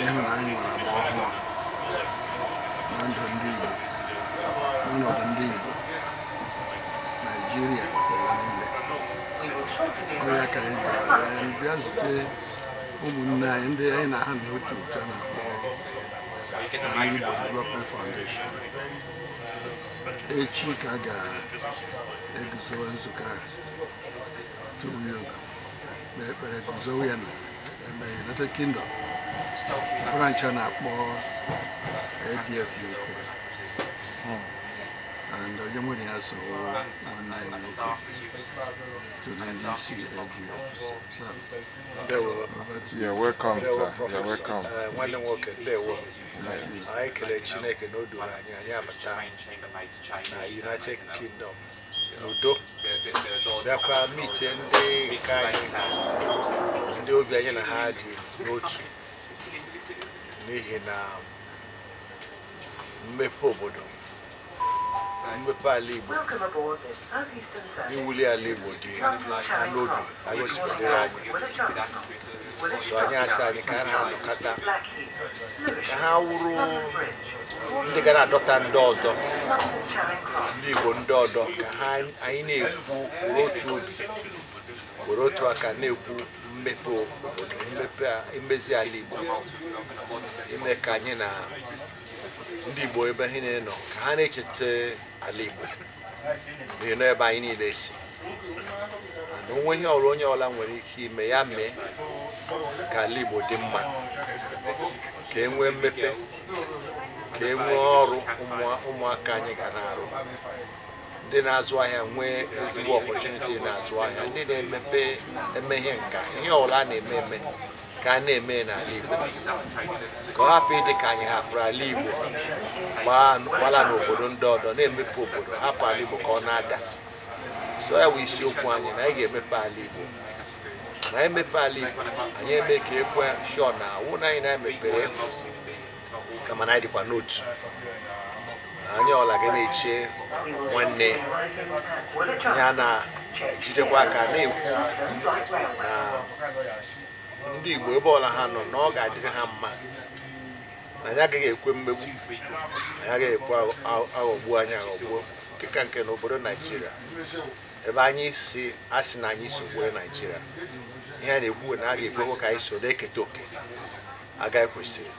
ịhụ na anyị nwere agba ọhụrụ na ndụ ndị Igbo n'ọnọdụ ndị Igbo Naijiria ụwa niile ọ ya ka anyị bịara anyị bịa zute ụmụnne anyị ndị anyị na ha nọ n'otu otu a na-akpọ Ala Igbo Development Foundation echi ka a ga-eguzo nzukọ a tupu ya oge kpee ekpere guzowe ya n'ime United Kingdom bụrụ nke a na-akpọ ADF UK and onye nwere ya so nwanne anyị nwoke to the ndị isi ADF so Ndewo. over to you. You're welcome, Ndewo, sir. You're Prọfesọ. welcome. Eh, Nwanne m nwoke, ndewo. Anyị kelee Chineke na o duru anyị anyị abata na United Kingdom n'udo bịakwa mitie ndị nke anyị ndị obi anyị na ha dị n'otu n'ihi na mmepe obodo mmepe ala Igbo iwuli ala Igbo dị ha n'obi ha gosipụtara anyị so anyị asị anyị ka anyị na ha nọkọta ka ha wụrụ ndị ga na-adọta ndị ọdọ ndị Igbo ndị ọdọ ka ha anyị na-ekwu were otu obi were otu aka na-ekwu mmepe obodo mmepe a- imezi ala Igbo ime ka anyị na ndị Igbo ebe ha niile nọ ka ha na-echeta ala Igbo na-enu ebe anyị niile si na o nwee ihe ọla onye ọla nwere ike ime ya mee ka ala Igbo dị mma ka e nwee mmepe ka e nwee ọrụ ụmụaka anyị ga na-arụ ndị na-azụ ahịa nwee ezigbo opportunity na-azụ ahịa ndị na-emepe eme ihe nka ihe ọla a na-eme eme ka a na-eme n'ala Igbo ka ọ hapụ ịdị ka anyị hapụrụ ala Igbo gbalaa n'obodo ndị ọdọ na-emepe obodo hapụ ala Igbo ka ọ na-ada so ya bụ isiokwu anyị na anyị ga-emepe ala Igbo na anyị mepe ala Igbo anyị eme ka ekwe sure na awụ na anyị na-emepere kama na anyị dịkwa n'otu na onye ọla ga na-eche nwanne anyị a na-ejidekwa aka na-ekwu na ndị Igbo ebe ọla ha nọ na ọ ga-adịrị ha mma na anyị agaghị ekwe mmegbu anyị agaghị ekwe a ghọgbu anyị aghọgbuo nke ka nke n'obodo naijiria ebe anyị si a sị na anyị si obodo naijiria ihe a na-ekwu wụ na a ga-ekwekwa ka anyị so na-eketa oke anyị kwesịrị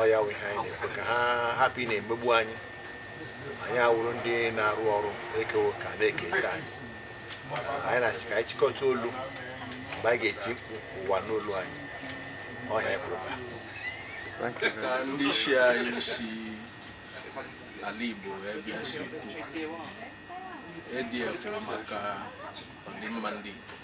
ọ ya wụ ihe anyị na-ekwu ka ha hapụ ị na-emegbu anyị anyị awụrụ ndị na-arụ ọrụ ekewo ka na-eke ike anyị anyị na-asị ka anyị chịkọta olu mgbe anyị ga-eti mkpu ụwa anụ olu anyị ọ ihe anyị kwuru baa Thank you. ka ndị isi anyị si ala Igbo wee bịa si kwuo ADF bụ maka ọdịmma ndị Igbo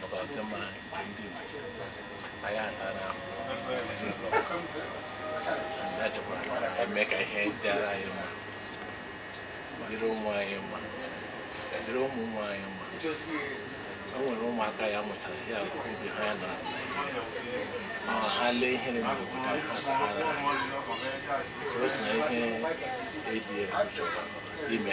maka ọdịmma nke ndị anyị atara anyị chọkwara ka e mee ka ihe dịara anyị mma dịrị ụmụ anyị mma dịrị ụmụ ụmụ anyị mma o nwere ụmụaka ya mụchara ihe a obi ha ya nọrọ ma ha lee ihe na-eme n'obodo anyị ha sị ha na so o si na ihe ADF chọrọ ime